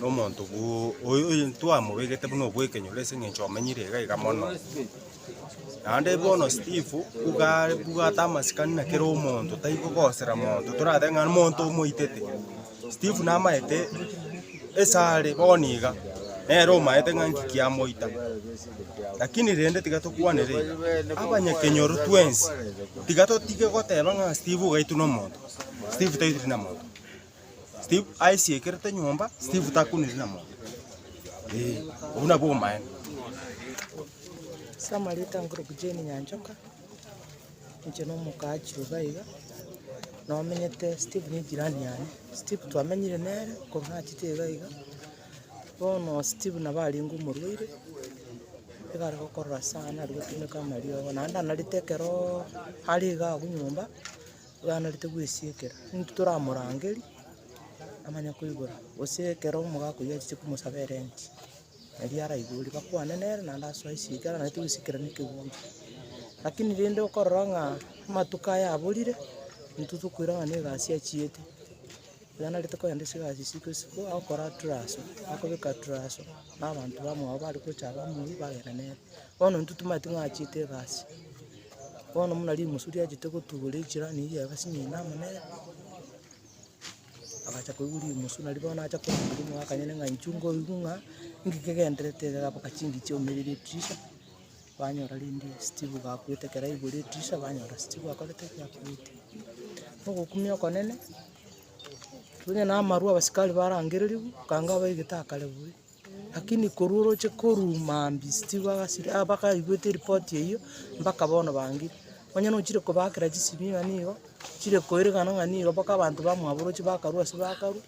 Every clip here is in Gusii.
Nomonto oyo twamobegete buna obwekenyoro ase engencho omenyire iga iga mono. Naende bono Steve nigo abwate amasikani na kera omonto tari kogosera monto toratebe ng'a monto omoitete. Steve namaete ase are bono iga nere omaete ng'a nki kiamoita. Lakini rende tiga tokwanere iga, abanyakenyoro twensi tiga totige goteba ng'a Steve ogaitwe nomonto, Steve taitire na monto. Steve aisiekerete nyomba, Steve takuniri na monto. Ee, obwo nabwo obomaene. Ase amareta ngoroku Jane Nyanchoka, inche na omoka achire iga iga, nomenyete Steve ne jirani yane. Steve twamenyire nere korwa nachete iga iga, bono Steve nabo arenge omorwaire, iga are gokorora sana ari gotumeka amariogo. Naende anarete ekeroo are iga abwo nyomba, Oganerete gwesiekera, intwe toramorangerie amanye koigora, gose ekero omogaka oyio achiche komosaba erenti, erio araiborie bakwane nere naende asoe esiekera aganete gwesiekera na ekeguri. Lakini rende okorora ng'a amatuko aya aborire, intwe tokoira ng'a na egasi achiete, iga narete kogenda ase egasi isiko isiko, agokora turaso, akobeka turaso, na abanto bamwabo bare gocha bamoyie bagenda nere. Bono intwe tomanyeti ng'a achiete egasi. Bono buna rimusu riachete gotugora echela nigo riagasi nyene amo nere, agacha koigwa rimusu nario bono nacha korenda oria omwakanyene ng'a inchuo nkoigwa ng'a inki kegenderete iga gabwate chingi chiaumeirie etirisha, banyora rende Steve gakwete ekero aigure etirisha banyora Steve akorete ki? Akwete. Ogokumia okonene, onye na amarwa abasikari barangererigwe, ekanga abaigete akare buya. Lakini korwa oroche korwa mambia still bagasira ah bakaigwete eripoti eyio, mpaka bono bangire. Onye nochire kobakera chisimi ng'a nigo, chire koerekana ng'a nigo mpaka abanto bamwabo oroche bakarwa ase bakarwa,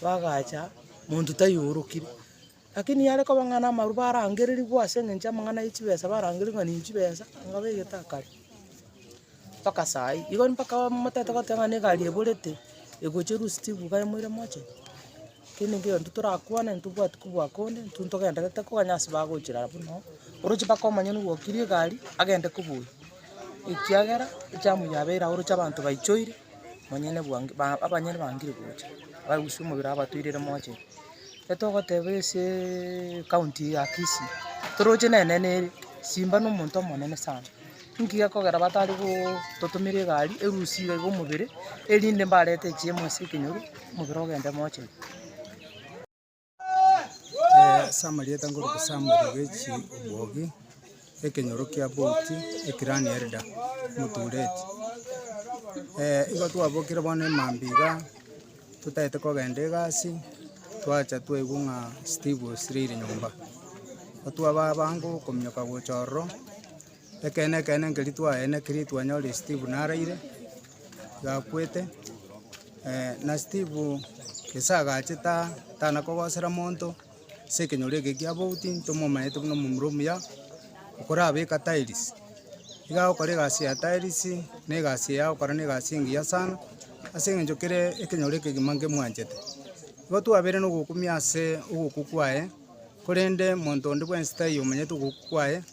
bagacha, monto taiyo orokire. Lakini yare koba ng'a na amarwa barangererigwe ase eng'encho y'amang'ana ya chibesa barangererigwe ng'a ninchi chibesa, ng'a baigete akare, mpaka saa hii. Igo mpaka motaete goteba ng'a na egari eborete, egocherwa still iga moire moche. Kende nkegento torakwane, ntobwati kobua konde, intwe ntogenderete koba onye ase bagochirara buna oo, oroche mpaka omonyene ogwokirie egari, agende kobua oyo, ekiagera ejamu yabeire agwo oroche abanto baichoire, omonyene bwango ba abanyene bangire gocha, barusie omobere abatoirere moche. Getogoteba aseee county eye ya Kisii, toroche nene nere, simba na omonto omonene sana. Inki gekogera batari gototomera egari erusia iga omobere, erinde mbarete echiemo ase ekenyoru, omobere ogende mochenu? Ase amarieta nkoruta Samuel Ogechi Omogi, ekenyoro kia Boti, eclan elder, Mutureti. Igo twabokire bono emambia iga, totaete kogenda egasi, twacha twaigwa ng'a Steve osirire nyomba. Intwe abaabange okominyoka gocha ororo. Ekeene, ekeene, nkeri twaeene keri twanyorire Steve naraire, iga akwete, na Steve gese agache ta- tana kogosera monto, ase ekenyoro eke kia bouti, ntomomanyete buna omomura omuya, okorabeka tiles. Iga agokora egasi ya tiles, na egasi eye agokora na egasi engiya sana, ase eng'encho kere ekenyoro ekegima ngemwanchete. Igo twabeire na ogokumia ase obokuku aye. Korende monto onde bwensi taiyo omanyete ogoku kwaye,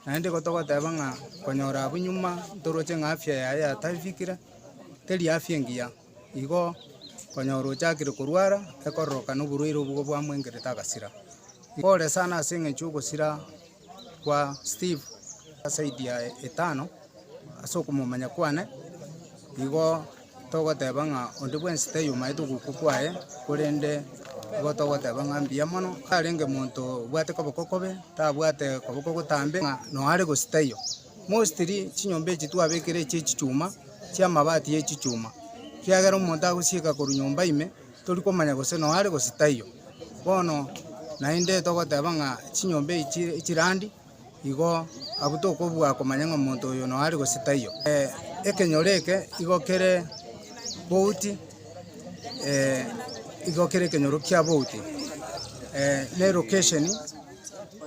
naende igo togoteeba ng'a konyora abwo nyuma ntoroche ng'a afya yaye yatafikire, teri afya engiya, igo konyora ochakire korwara ekororoka na oborwaire obwo bwamoengerete agasira. Igo ore sana ase eng'encho ya ogosira. kwa Steve zaidi ya etano ase okomomanya kwane, igo togoteba ng'a onde bwensi taiyomaete ogokwa kwaye, korende igo togoteba ng'a mbuya mono. Tarenge monto obwate koboko kobe, tabwate koboko gotambe ng'a nonya are gosio taiyo. Mostly chinyomba echi twabekire echi'echichuma, chi'amabati y'echichuma, kiagera omonto agosieka korwa nyomba ime. Tori komanya gose noa are gose taiyo. Bono naende togoteba ng'a chinyomba echi chirandi igo abwo tokobua komanya ng'a omonto oyo noa are gose taiyo. Ekenyoro eke igo kere bouti, igo kere ekenyoro kia bouti, na elocation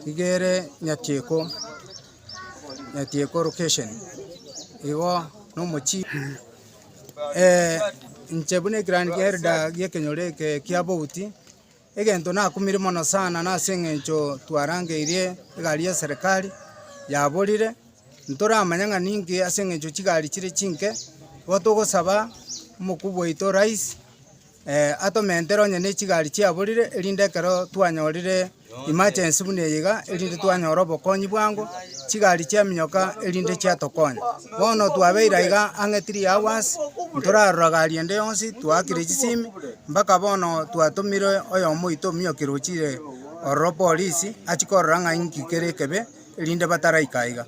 iga ere Nyatieko, Nyatieko location, igo nomochie. inche buna ekirandi ki'Elda gi'ekenyoro eke kia bouti, egento nakumire mono sana nase eng'encho twarangeirie egari ya serikari yaborire, ntoramanya ng'a ninki ase eng'encho chigari chire chinke, igo togosaba omokubwa oito rais. Atomentere onye nechigari chiaborire, erinde ekero twanyorire emergency buna eye iga, erinde twanyore obokonyi bwango, chigari chiaminyoka erinde chiatokonya. Bono twabeire aiga ang'e three hours, ntorarora gari ende yonsi, twaakire chisimi, mpaka bono twatomire oyomo oito ominyokia rochire ororo polisi, achie korora ng'a inki kere ekebe, erinde bataraika aiga.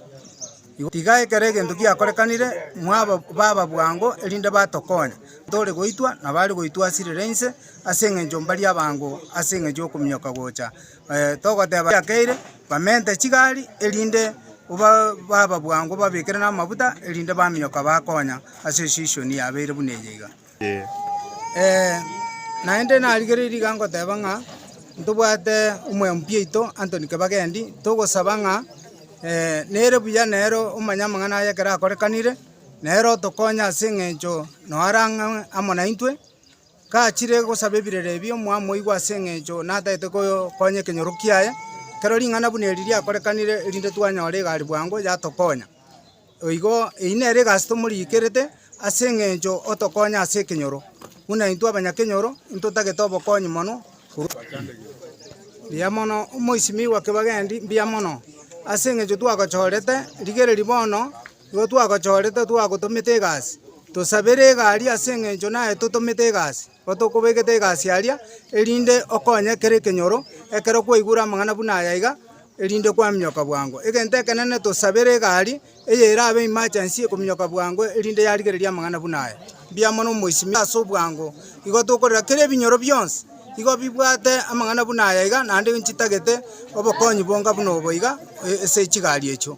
Iga ekero egento giakorekanire, mwaba baba bwango, erinde batokonye, ntore goitwa nabare goitwasirera inse ase engencho mbari abango ase engencho y'okominyoka gocha. Togoteba yakeire, bamente chigari, erinde baba bwango babekere namabuta, erinde baminyoka bakonya ase esisioni yabeire buna eye iga. Ee, naende narigereiri iga ngoteba ng'a ntobwate omoyo mpiaito Anthony Kebagendi, togosaba ng'a nere buya nere omanye amang'ana aye ekero akorekanire, nere otokonye ase eng'encho noo arang'ang'e amo naintwe, gachire gosaba ebirero ebi omwamoigwa ase eng'encho natagete koyo konya ekenyoro kiaye, ekero ring'ana buna eri riakorekanire erinde twanyora egari bwango yatokonya. Erio igo, eyio nere egasi tomoriikerete ase engencho otokonya ase ekenyoro, buna intwe abanyakenyoro intotagete obokonyi mono korwa ase inwe. Mbuya mono, omoisimigwa kebagendi, mbuya mono, ase engencho twagochorete, rigereria bono, igo twagochorete twagotomete egasi. Tosabere egari ase engencho naye totomete egasi. Gotokobegete egasi aria, erinde okonye kera ekenyoro, ekero kwaigure amang'ana buna aya iga, erinde kwaminyoka bwango. Egento ekenene tosabere egari, eye erabe emergency ekominyoka bwango, erinde yarigereria amang'ana buna aya. Mbuya mono omoisimore ase obwango. Igo tokorera kera ebinyoro bionsi, igo bibwate amang'ana buna aya iga, naende nchitagete obokonyi bonga buna obo iga, ase chigari echio.